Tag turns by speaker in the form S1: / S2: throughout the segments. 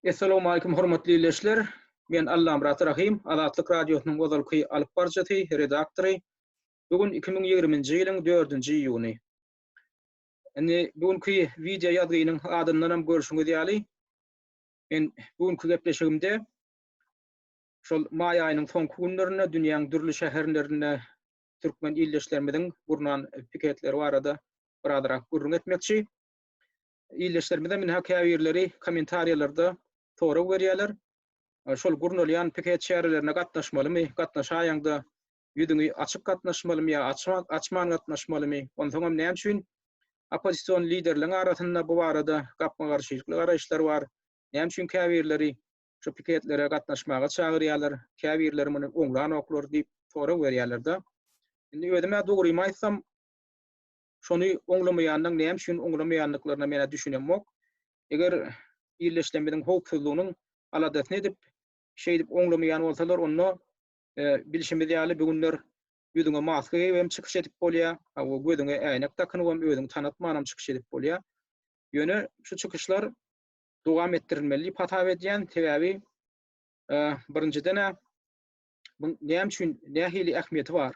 S1: Essalawmalikim hormatly leşler! Men Allamyrat Rahym, Azatlyk Radiosynyň ozalky alyp baryjysy, redaktory. Bu gün iki müň ýigrimi nji ýylyň dördünji iýuny. Indi bu günki wideo ýazgynyň adyndanam görşüňiz ýaly, men bu günki gepleşigimde şol maý aýynyň soňky günlerinde dünýäň dürli şäherlerinde türkmen ildeşlerimiziň gurnan piketleri barada birazrak gürrüň etmekçi. Ildeşlerimizem ynha käbirleri kommentariýalarda sorag berýärler. Şol gurnalýan piket çärelerine gatnaşmalymy, gatnaşaýaňda ýüzüňi açyp gatnaşmalymy ýa açyp açman gatnaşmalymy, onsoňam näme üçin oppozision liderleriň arasynda bu barada gapma-garşylykly garaýyşlar bar, näme üçin käbirleri şu piketlere gatnaşmaga çagyrýarlar, käbirleri muny oňlanoklar diýip sorag berýärler-de. Indi özüm-ä dogrymy aýtsam, şony oňlamaýanlaň näme üçin oňlamaýandyklaryna men-ä düşünemok. Eger ýerleşlemimiziň howpsuzlygynyň aladasyny edip, şeýdip oňlamaýan bolsalar, onda bilşimiz ýaly bu günler ýüzüňe maska geýip hem çykyş edip bolýar, hawa gözüňe äýnek dakynyp hem özüňi tanatman hem çykyş edip bolýar. Ýöne şu çykyşlar dowam etdirilmeli diýip hasap edýän, sebäbi birinjiden-ä bu näme üçin, nähili ähmiýeti bar?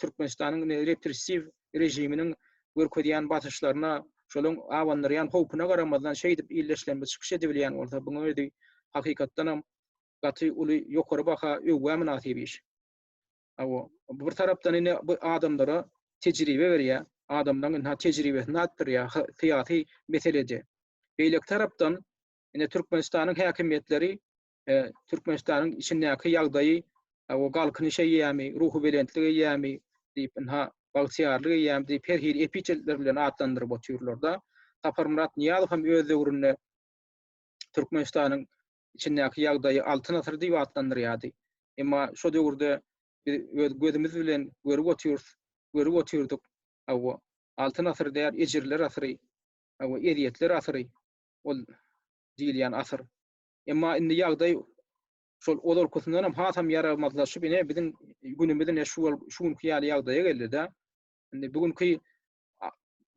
S1: Türkmenistanyň indi repressiw režiminiň görkezýän basyşlaryna, şolaryň abandyrýan howpuna garamazdan şeýdip illeşlemli çykyş edibilýän bolsa, bunuň özi hakykatdanam gaty uly ýokary baha, öwgä mynasyp iş. Hawa, bir tarapdan indi bu adamlara tejribe berýär, adamlaryň indi ha tejribesini artdyrýar ha syýasy meselede. Beýleki tarapdan indi Türkmenistanyň häkimiýetleri Türkmenistanyň içindäki ýagdaýy o galkynyş eýýamy, ruhubelentlik eýýamy diýip, ynha, bagtyýarlyk eýýamy diýip, her hili epitetler bilen atlandyryp otyrlar-da. Saparmyrat Nyýazow hem öz döwründe Türkmenistanyň içindäki ýagdaýy Altyn asyr diýip atlandyrýardy. Emma şo döwürde biz öz gözümiz bilen görüp otyrys, görüp otyrdyk, hawa, Altyn asyr däl, ejirler asyry, hawa, ezýetler asyry ol diýilýän asyr. Emma indi ýagdaý şol ozalkysyndan hem hasam ýaramazlaşyp, ine biziň günümiz ine şu bol şu günki ýaly ýagdaýa geldi-de. Indi bu günki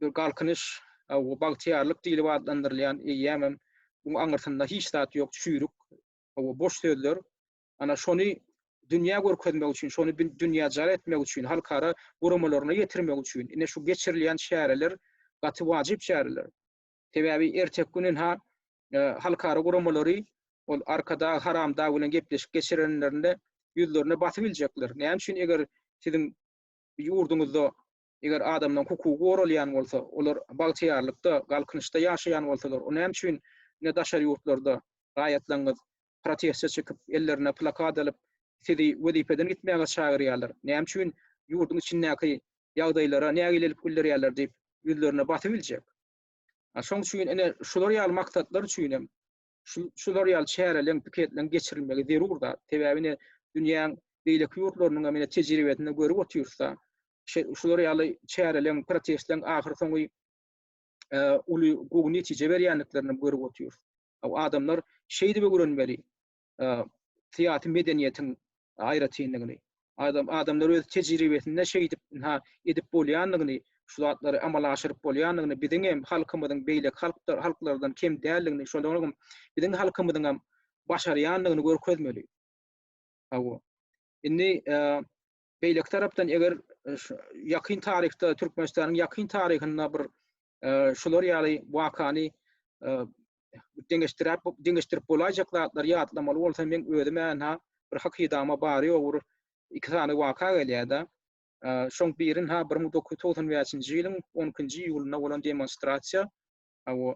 S1: bir galkynyş, bu bagtyýarlyk diýlip atlandyrylýan eýýäm hem bu aňyrsynda hiç zat ýok, çüýrük, bu boş sözler. Ana şony dünýä görkezmek üçin, şony dünýä jar etmek üçin, halkara guramalaryna ýetirmek üçin ine şu geçirilýän çäreler gaty wajyp çäreler. Sebäbi erteki gün ynha halkara guramalary ol Arkadag Haramdag bilen gepleşik geçirenlerinde ýüzlerine basyp iljekler. Näme üçin eger siziň ýurduňyzda eger adamlaryň hukugy goralýan bolsa, olar bagtyýarlykda, galkynyşda ýaşaýan bolsalar, o näme üçin ine daşary ýurtlarda raýatlaryňyz protestçi çykyp, ellerine plakat alyp, sizi wezipeden gitmäge çagyrýarlar, näme üçin ýurduň içindäki ýagdaýlara nägilelik bildirýärler diýip, ýüzlerine basybiljek. Şonuň üçin ine, şular ýaly maksatlar üçin hem şular ýaly çäreleriň, piketleriň geçirilmegi zerur zat. Sebäbi ine, dünýäň beýleki ýurtlarynyň hem tejribesinde görüp otyrys-da, şular ýaly çäreleriň, protestleriň ahyrsoňy uly gowy netije berýändiklerini görüp otyrys. Adamlar şeýdip öwrenmeli syýasy medeniýetiň aýratynlygyny. Adam adamlar öz tejribesinde şeýdip ha edip bolýandygyny, şu zatlary amala aşyryp bolýandygyny, biziň hem halkymyzyň beýleki halklar halklardan kem däldigini, şolaryň biziň halkymyzyň hem başarýandygyny görkezmeli. Hawa. Indi Beýleki tarapdan eger ýakyn taryhda Türkmenistanyň ýakyn taryhynda bir şular ýaly wakany deňeşdirip deňeşdirip bolaýjak zatlary ýatlamaly bolsa men özüme ynha bir hakydama bary ýogur iki sany waka gelýärdi. Şoň birin ha 1995-nji ýylyň 12-nji iýulynda bolan demonstrasiýa Hawa,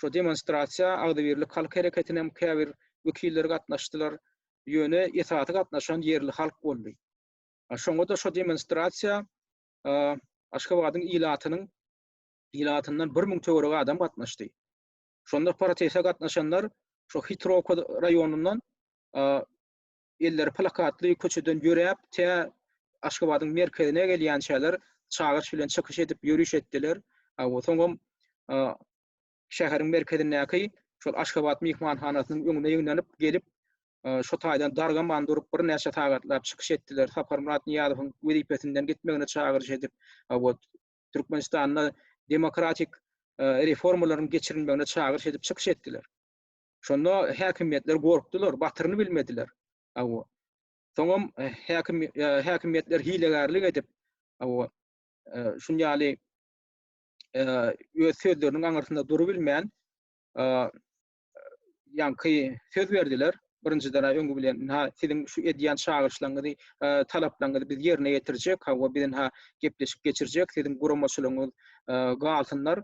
S1: şo demonstrasiýa agzybirlik halk hereketiniňem käbir wekilleri gatnaşdylar, ýöne esasy gatnaşan ýerli halk boldy. Şoňa-da şo demonstrasiýa Aşgabadyň ilatynyň ilatyndan bir müň töweregi adam gatnaşdy. Şonda protese gatnaşanlar şo Hitrowka raýonyndan elleri plakatly köçeden ýöräp, tä Aşgabadyň merkezine gelýänçäler çagyryş bilen çykyş edip, ýöriş etdiler. Soňam şäheriň merkezindäki şol Aşgabat myhmanhanasynyň öňüne ýygnanyp gelip, şo taýdan dargaman durup, birnäçe sagatlap çykyş etdiler. Saparmyrat Nyýazowyň wezipesinden gitmegine çagyryş edip, Türkmenistanda demokratik reformalaryň geçirilmegine çagyryş edip çykyş etdiler. Şonda häkimiýetler gorkdular, batyryny bilmediler. Hawa. Soňam häkim häkimiýetler hilegärlik edip, hawa, şun ýaly öz sözleriniň aňyrsynda durup bilmän, ýaňky söz berdiler. Birinjiden aý öňi bilen, ha, siziň şu edýän çagyryşlaryňyzy, talaplaryňyzy biz ýerine ýetirjek, hawa, biz indi gepleşik geçirjek, siziň guramaçylygyňyz galsynlar.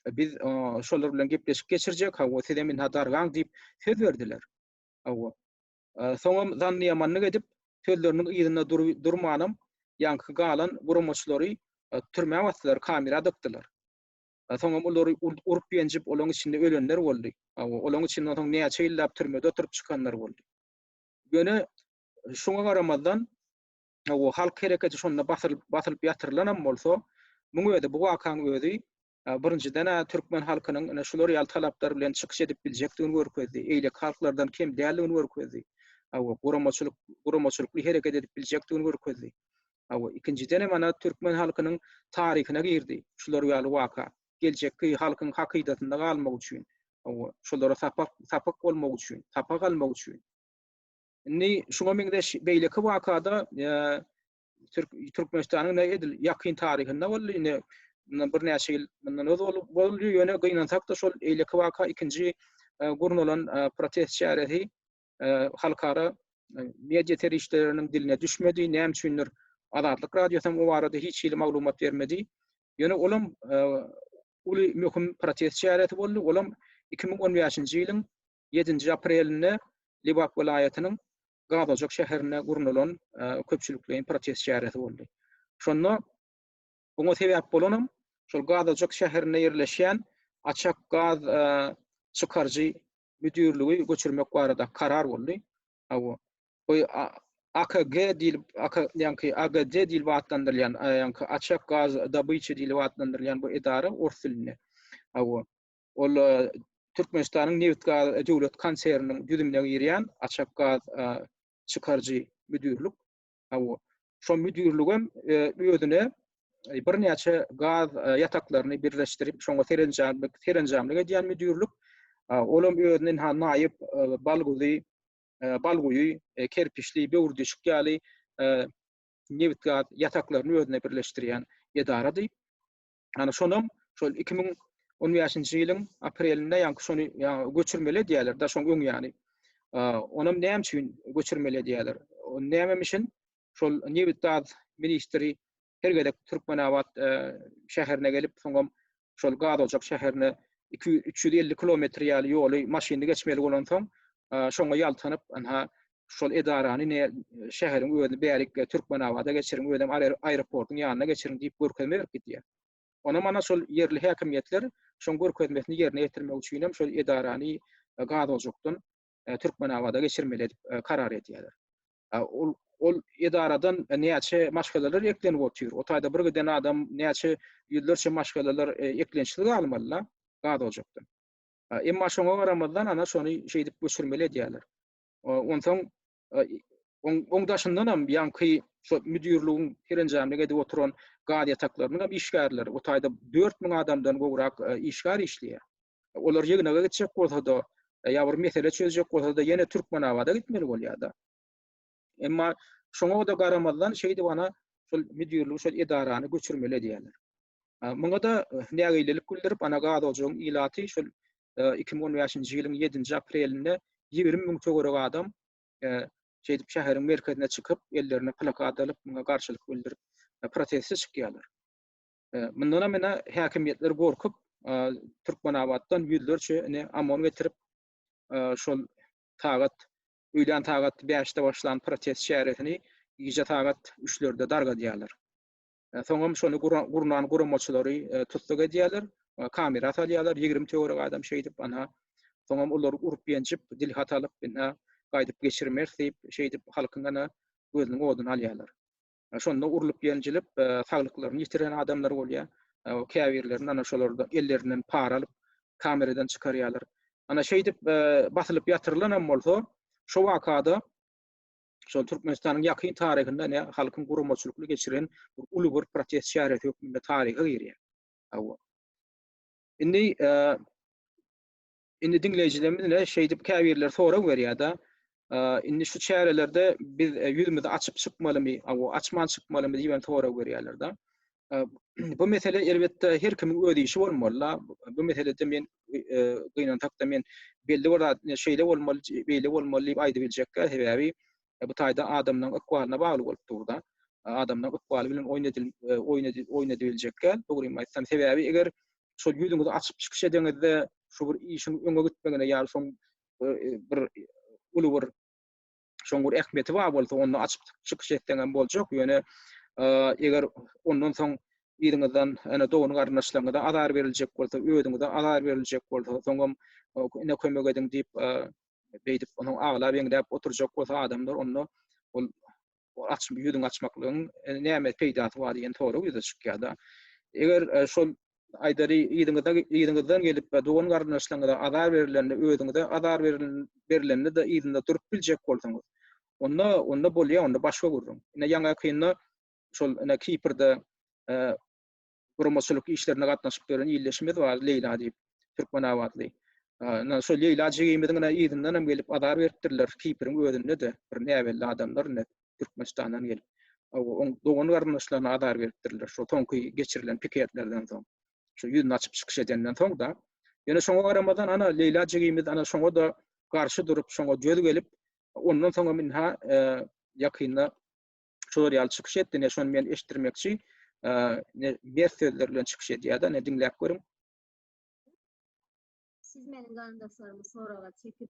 S1: biz şolar bilen gepleşik geçirjek, hawa, siz hem ynha dargaň diýip söz berdiler. Hawa. Soňam zannyýamanlyk edip, sözleriniň yzynda durmanam, ýaňky galan guramaçylary türmä basdylar, kamera dykdylar. Soňam olary urup-ýenjip, olaryň içinde ölenler boldy. Hawa, olaryň içinde soň näçe ýyllap türmede oturyp çykanlar boldy. Ýöne şoňa garamazdan, Hawa, halk hereketi şonda basylyp, basylyp ýatyrylanam bolsa, muň özi, bu wakaň özi, birinjiden-ä türkmen halkynyň ine şular ýaly talaplar bilen çykyş edip biljekdigini görkezdi, eýleki halklardan kem däldigini görkezdi. Hawa, guramaçylyk, guramaçylykly hereket edip biljekdigini görkezdi. Hawa, ikinjidenem ana türkmen halkynyň taryhyna girdi şular ýaly waka. Geljekki halkyň hakydasynda galmak üçin, hawa, şolara sapak, sapak bolmak üçin, sapak almak üçin. Indi şuňa meňzeş beýleki wakada Türkmenistanyň indi edil ýakyn taryhynda boldy. Indi mundan birnäçe ýyl mundan öz bolup boldy. Ýöne gynansak-da şol eýleki waka ikinji gurnalan protest çäresi halkara media serişdeleriniň diline düşmedi. Näme üçindir Azatlyk radiosy hem o barada hiç hili maglumat bermedi. Ýöne olam uly möhüm protest çäresi boldy. Olam 2015-nji ýylyň ýedinji aprelinde Lebap welaýatynyň Gazojak şäherinde gurnalan köpçülikleýin protest çäresi boldy. Şonda oňa sebäp bolanam şol Gazojak şäherinde ýerleşýän Açak gaz çykaryjy müdirligi göçürmek barada karar boldy. Hawa. Bu AKG diýlip, ýaňky AGD diýlip atlandyrylýan, ýaňky Açak gaz dabyçy diýlip atlandyrylýan bu edara ors dilinde. Hawa. Ol Türkmenistanyň Nebitgaz döwlet konserniniň düzümine girýän Açakgaz çykaryjy müdirlik. Hawa, şo müdirlik hem özüne birnäçe gaz ýataklaryny birleşdirip, şoňa serenjamlyk, serenjamlyk edýän müdirlik. Ol hem özünden ha naýyp Balguzy, Balguýy, Kerpiçli, Böwürdişik ýaly nebitgaz ýataklaryny özüne birleşdirýän edarady. Ýani şonam şol iki müň on bäşinji ýylyň aprelinde ýaňky şony ýaňy göçürmeli edýärler da şoň öň ýani. Onam näme üçin göçürmeli edýärler? Nämem üçin şol nebit gaz ministri her gezek Türkmenabat e, şäherine gelip soňam şol gaz ojak şäherine 200-350 kilometr ýaly ýoly maşynly geçmeli bolansoň e, şoňa ýaltanyp anha şol edarany ne şäheriň özüni bärik Türkmenabada geçiriň, özem aeroportyň ýanyna geçiriň diýip görkezme berip gidýär. Onam ana şol ýerli häkimiýetler şoň görkezmesini ýerine ýetirmek üçin hem şol edarany Gazojakdan Türkmenabada geçirmeli edip karar edýärler. Ol ol edaradan näçe maşgalalar eklenip otyr. O taýda bir giden adam näçe ýüzlerçe maşgalalar eklençsiz galmaly-la Gazojakdan. Emma şoňa garamazdan ana şony şeýdip göçürmeli edýärler. Onsoň oň daşyndan hem ýaňky şo müdirligiň serenjamlyk edip oturan gaz ýataklarynyň hem işgärleri, o taýda dört müň adamdan gowrak işgär işleýär. Olar ýygnaga gitjek bolsa-da, ýa bir mesele çözjek bolsa-da ýene Türkmenabada gitmeli bolýar-da. Emma şoňa-da garamazdan şeýdip ana şol müdirligi, şol edarany göçürmeli edýärler. Muňa-da nägilelik bildirip, ana gaz ojagyň ilaty şol iki müň on bäşinji ýylyň ýedinji aprelinde ýigrimi müň töweregi adam şeýdip şäheriň merkezine çykyp, ellerine plakat alyp, muňa garşylyk bildirip, proteste çykýarlar. Mundanam ine häkimiýetler gorkup, Türkmenabatdan ýüzlerçe ine OMON getirip, şol sagat öýlän sagat bäşde başlan protest çäresini gije sagat üçlerde dargadýarlar. Soňam şony gurnan guramaçylary tussag edýärler, kamera salýarlar, ýigrimi töwerek adam şeýdip, ana, soňam olar urup-ýenjip, dilhat alyp, ine, gaýdyp geçirmeris diýip, şeýdip, halkyň, ana, gözüniň oduny alýarlar. Şonda urlup-ýenjilip, saglyklaryny ýitiren adamlar bolýar. Käbirlerini, ana, şolar ellerinden para alyp, kameradan çykarýarlar. Ana, şeýdip, basylyp ýatyrylanam bolsa, şo wakada şol Türkmenistanyň ýakyn taryhynda ne halkyň guramaçylykly geçiren bir uly bir protest çäresi hökmünde taryha girýär. Hawa. Indi e, indi diňleýjilerimiz ne şeýdip käbirler sorag berýär-de, e, indi şu çärelerde biz e, ýüzümizi açyp çykmalymy, hawa, açman çykmalymy diýen sorag berýärler-de. bu mesele elbetde her kimiň öz işi bolmaly. Bu meselede men gynansakda men belli bir zat şeýle bolmaly, beýle bolmaly diýip aýdyp biljekkä sebäbi bu taýda adamlaryň ykbalyna bagly bolup dur da. Adamlaryň ykbaly bilen oýun edil oýun edil oýun edip biljekkä dogrymy aýtsam sebäbi eger şol ýüzüňizi açyp çykyş edeňizde şu bir işiň öňe gitmegine ýa-da şoň bir uly bir şoň bir ähmiýeti bar bolsa, onda açyk çykyş etseň hem boljak, ýöne eger ondan soň yzyňyzdan ene dogan garyndaşlaryňyza azar beriljek bolsa, özüňize azar beriljek bolsa, soňam ine kömek ediň diýip beýdip onuň aglap eňdäp oturjak bolsa adamlar onda ol açyp ýüzüň açmaklygyň e, näme peýdasy bar diýen sorag ýüze çykýar-da. Eger e, şol aýdary yzyňyza yzyňyzdan gelip we dogan garyndaşlaryňyza azar berilende özüňize azar berilende de yzynda durup biljek bolsaňyz onda onda bolýar onda başga gürrüň ine ýaňakynda şol ine kiprde guramaçylyk işlerine gatnaşyp ýören ildeşimiz bar leýla diýip türkmenabatly Ýa şol Leýla jigimiziň yzyndan hem gelip azar beripdirler Kipriň özünde-de bir näbelli adamlar indi Türkmenistandan gelip, oň dogan-garyndaşlaryna azar beripdirler, şo soňky geçirilen piketlerden soň, şo ýüzüni açyp çykyş edenden soň-da. Ýöne şoňa garamazdan, ana, Leýla jigimiz, ana, şoňa-da garşy durup, şoňa jöz gelip, ondan soň hem ynha, ýakynda şular ýaly çykyş etdi, ine, şony men eşitdirmekçi, ine, bert sözler bilen çykyş edýär-de, ine, diňläp görüň. Siz meniň garyndaşlarymy
S2: soraga çekip,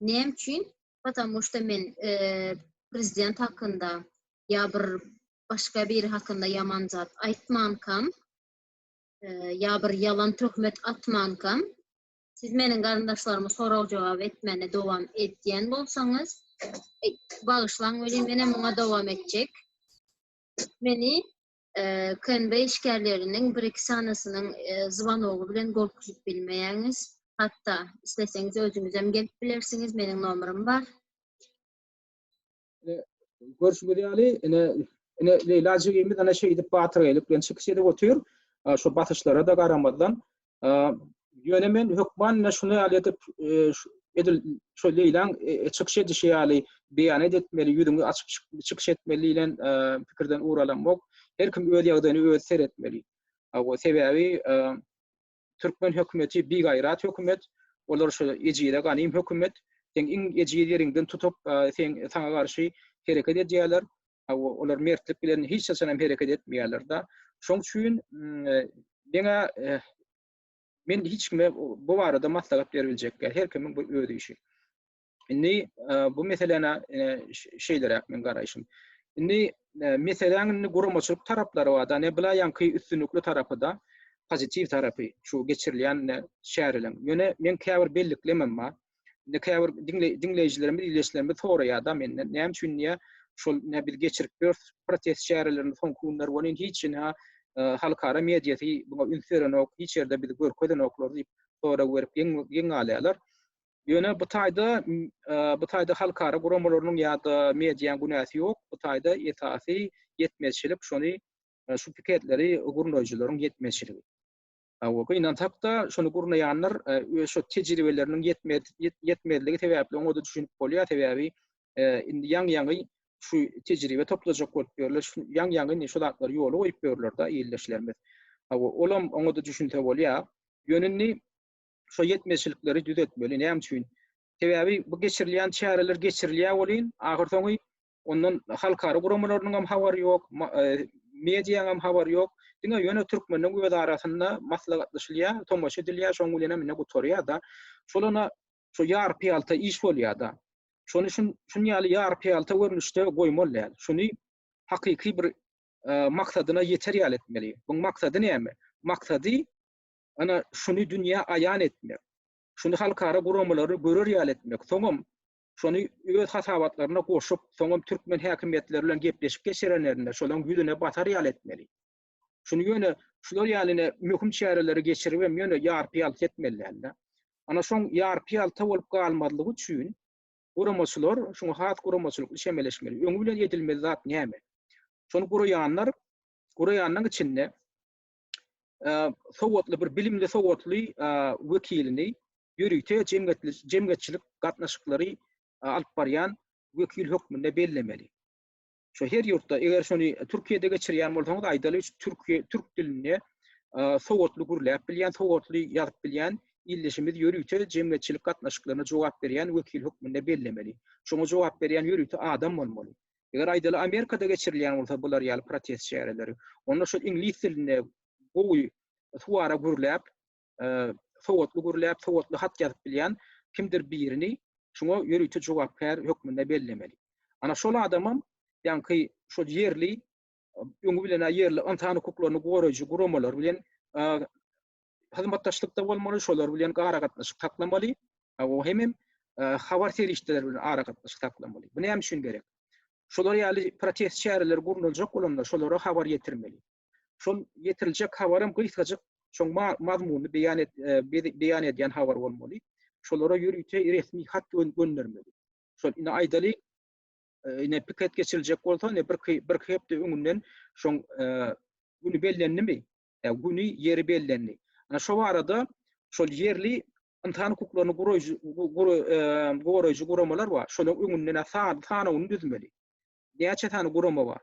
S2: Näme üçin? Patamu şda men prezident hakynda ýa bir başga biri hakynda ýaman zat aýtmankam, ýa bir ýalan töhmet atmankam, siz meniň garyndaşlarymy sorag-jogap etmäne dowam edýän bolsaňyz, bagyşlaň welin, menem muňa dowam etjek. Meni KNB işgärleriniň bir-iki sanysynyň zwanogy bilen gorkuzip bilmeýäňiz. Hatda isleseňiz özüňizem gelip bilersiňiz. Meniň nomerym bar.
S1: Görşüňiz ýaly, ine, ine Leýla jigimiz ine şeýdip batyrgaýlyk bilen çykyş edip otyr. Şu basyşlara-da garamazdan, Ýöne men hökman ine şuny ýaly edip, edil şu Leýlaň çykyş edişi ýaly beýan etmeli, ýüzüňi açyp çykyş etmeli diýlen pikirden ugur alamok. Her kim öz ýagdaýyny özi seretmeli. Sebäbi türkmen hökümeti bigaýrat hökümet, olar şu ejize ganym hökümet. Sen iň ejiz ýeriňden tutup, sen saňa garşy hereket edýärler. Hawa, olar mertlik bilen hiç haçan hem hereket etmeýärler-de. Şoň üçin meňä men hiç kime bu barada maslahat berip biljek däl. Her kimiň bu öz işi. Indi bu meseläne şeýleräk men garaýşym. Indi meseläň indi guramaçylyk taraplary bar-da, ne bilaýanky üstünlikli tarapy-da, pozitiw tarapy, şu geçirilýän çäreleriň. Ýöne men käbir belliklemem bar. Indi käbir diňleýjilerimiz, ildeşlerimiz soraýar-da menden, näme üçin diýä, şol nä biz geçirip ýörüs protest çärelerini soňky günler welin hiç hili halkara mediasy buna üns berenok, hiç ýerde bizi görkezenoklar diýip sorag berip geň galýarlar. Ýöne bu taýda bu taýda halkara guramalarynyň ýa-da medianyň günäsi ýok. Bu taýda esasy ýetmezçilik şony şu piketleri gurnaýjylaryň ýetmezçiligi. Hawa, gynansak-da, şuny gurnaýanlar öz şo tejribeleriniň ýetmezligi sebäpli oňa-da düşünip bolýar, sebäbi indi ýaňy-ýaňy şu tejribe toplajak bolup ýörler, ýaňy-ýaňy indi şu zatlary ýola goýup ýörler-de ildeşlerimiz. Hawa, olam oňa-da düşünse bolýar. Ýöne indi şo ýetmezçilikleri düzetmeli. Näme üçin? Sebäbi bu geçirilýän çäreler geçirilýär welin, ahyrsoňy Ondan halkara guramalarynyň hem habary ýok, mediýanyň hem habary ýok. Diňe ýöne türkmeniň öz arasynda maslahatlaşylýar, tomaşa edilýär, şoň bilenem indi gutarýar-da. Şolana şu ýarpyýalta iş bolýar-da. Şony şun şun ýaly ýarpyýalta görnüşde goýmaly däl. Şuny hakyky bir maksadyna ýeter ýaly etmeli. Bu maksady näme? Maksady ana şuny dünýä aýan etmek. Şuny halkara guramalary görer ýaly etmek. Soňam şony öz hasabatlaryna goşup, soňam türkmen häkimiýetleri bilen gepleşik geçirenlerinde şolaryň ýüzüne batar ýaly etmeli. Şuny ýöne şular ýaly ine möhüm çäreleri geçiribem ýöne ýarpy-ýalty etmeli däldi. Ana şoň ýarpy-ýalta bolup galmazlygy üçin guramaçylar şuňa has guramaçylykly çemeleşmeli. Öňi bilen edilmeli zat näme? Şony guraýanlar, guraýanlaryň içinde sowatly bir bilimli sowatly wekilini ýörite jemgyýetçilik gatnaşyklary alyp barýan wekil hökmünde bellemeli. Şu her ýurtda eger şony Türkiýede geçirýän bolsaňyz aýdaly Türkiýe türk dilinde sowatly gürläp bilýän, sowatly ýazyp bilýän ildeşimiz ýörite jemgyýetçilik gatnaşyklaryna jogap berýän wekil hökmünde bellemeli. Şoňa jogap berýän ýörite adam bolmaly. Eger aýdaly Amerikada geçirilýän bolsa bular ýaly protest çäreleri, onda şol iňlis dilinde gowy suwara gürläp, sowatly gürläp, sowatly hat ýazyp bilýän kimdir birini şuňa ýörite jogapkär hökmünde bellemeli. Ana şol adamam ýaňky şol ýerli öňi bilen-ä ýerli ynsan hukuklaryny goraýjy guramalar bilen hyzmatdaşlykda bolmaly, şolar bilen aragatnaşyk saklamaly, o hemem habar serişdeleri bilen aragatnaşyk saklamaly. Bu näme üçin gerek? Şolar ýaly protest çäreleri gurnaljak bolanda şolara habar ýetirmeli. Şol ýetiriljek habaram gysgajyk, şoň mazmuny beýan et, beýan edýän habar bolmaly. Şolara ýörite resmi hat göndermeli. Şol indi aýdaly, ine piket geçiriljek bolsa, ine bir bir hepde öňünden şoň güni bellenilimi? güni, ýeri bellendi. Ana şo barada şol ýerli ynsan hukuklaryny goraýjy guramalar bar. Şolaryň öňünden sanawyny düzmeli. Näçe sany gurama bar?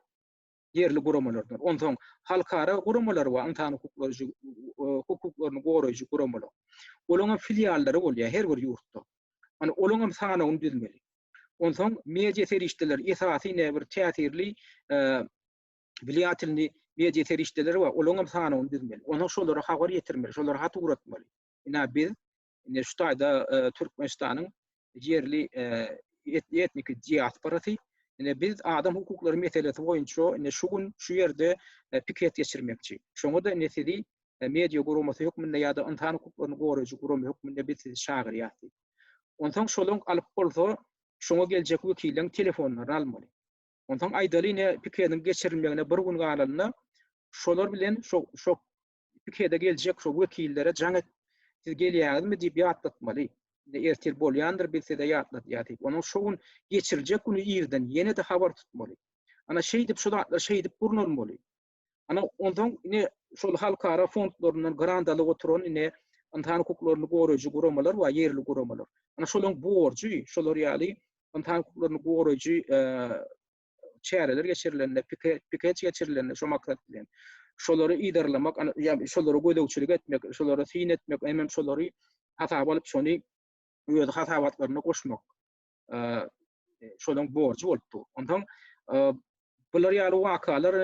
S1: Ýerli guramalardan. Onsoň halkara guramalar bar, ynsan hukuklary hukuklaryny goraýjy guramalar. Olaryň hem filiallary bolýar her bir ýurtda. Ana olaryň hem sanawyny düzmeli. Onsoň media serişdeleri esasy näbir täsirli wlaýatyny media serişdeleri bar, olaryň hem sanawyny düzmeli. Onsoň şolara habar ýetirmeli, şolara hat ugratmaly. Ine biz indi şu taýda e, Türkmenistanyň ýerli e, etniki diasporasy ine biz adam hukuklary meselesi boýunça ine şu gün şu ýerde e, piket geçirmekçi. Şoňa da ine sizi media guramasy hökmünde ýa-da ynsan hukuklaryny goraýjy gurama hökmünde biz sizi çagyrýarys. Onsoň şolaryň alyp bolsa, şoňa geljek wekiliň telefonlaryny almaly. Onsoň aýdaly ine pikediň geçirilmegine bir gün galanda şolar bilen şo şo pikede geljek şo wekillere jaň et siz gelýäňizmi diýip ýatlatmaly. Ine ertir bolýandyr biz size ýatladýar diýip. Onuň şo gün geçiriljek güni irden ýene-de habar tutmaly. Ana şeýdip şu zatlar şeýdip gurnalmaly. Ana, onsoň ine, şol halkara fondlaryndan grant alyp oturan ine, ynsan hukuklaryny goraýjy guramalar bar, ýerli guramalar. Ana, şolaryň borjy, şolar ýaly ynsan hukuklaryny goraýjy çäreler geçirilende, pikeç geçirilende şo maksat bilen, şolary yzarlamak, şolara gözegçilik etmek, şolara syn etmek, hemem şolary hasaba alyp, şony öz hasabatlaryna goşmak. şolaryň borjy bolup dur. Ondan bular ýaly wakalar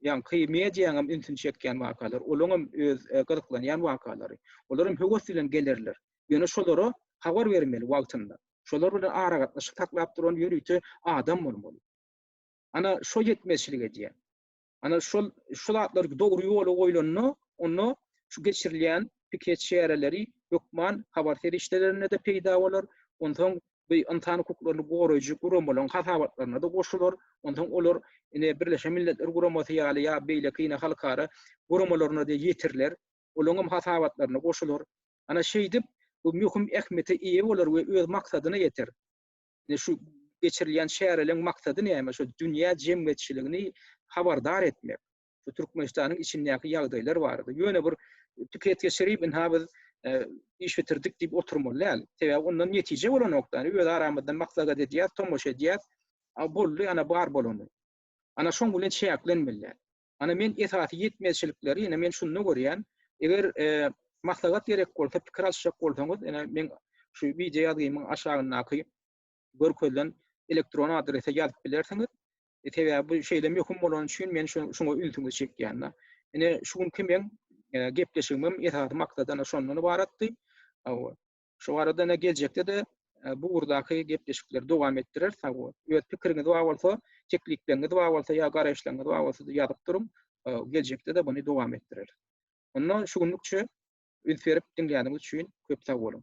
S1: ýaňky mediýanyň hem ünsüni çekýän wakalar, olaryň hem öz gyzyklanýan wakalary. Olar hem höwes bilen gelerler. Ýöne şolara habar bermeli wagtynda. Şolar bilen aragatnaşyk saklap duran ýörite adam bolmaly. Ana şo ýetmezçilik edýär. Ana şol şu zatlar dogry ýola goýlanda, onda şu geçirilýän piket çäreleri hökman habar serişdelerinde-de peýda bolar, onsoň bu ynsan hukuklaryny goraýjy guramalaryň hasabatlaryna-da goşular, onsoň olar ine Birleşen Milletler Guramasy ýaly ýa beýleki ine halkara guramalaryna-da ýetiriler, olaryň hem hasabatlaryna goşular. Ana şeýdip, bu möhüm ähmiýete eýe bolar we öz maksadyna ýeter. Ine şu geçirilýän çäreleriň maksady näme? Şu dünýä jemgyýetçiligini habardar etmek. Şu Türkmenistanyň içindäki ýagdaýlar barada. Ýöne bir pikir geçirip, ynha biz e, iş bitirdik diýip oturmaly däl. Sebäbi ondan netije bolanokda, yani öz aramyzdan maslahat edýäs, tomaşa edýäs. A boldy, ana bar bolany. Ana şoň bilen çäklenmeli. Ana men esasy ýetmezçilikleri ýene men şunda görýän. Eger maslahat gerek bolsa, pikir alyşjak bolsaňyz, ýene men şu wideo ýazgymyň aşagyndaky görkezilen elektron adrese ýazyp bilersiňiz. E, sebäbi bu şeýle möhüm bolany üçin men şu şuňa ünsüňizi çekýän. Ine şu günki men e, gepleşigimiň esasy maksady şondan ybaratdy. Şu arada ene geljekde-de bu ugurdaky gepleşikleri dowam etdirer. Sag bol. Öz pikiriňiz bar bolsa, teklipleriniz bar bolsa ýa garaýyşlaryňyz bar bolsa ýazyp duruň. Geljekde-de buny dowam etdirer. Onda şu günlükçe üns berip diňläniňiz üçin köp sag boluň.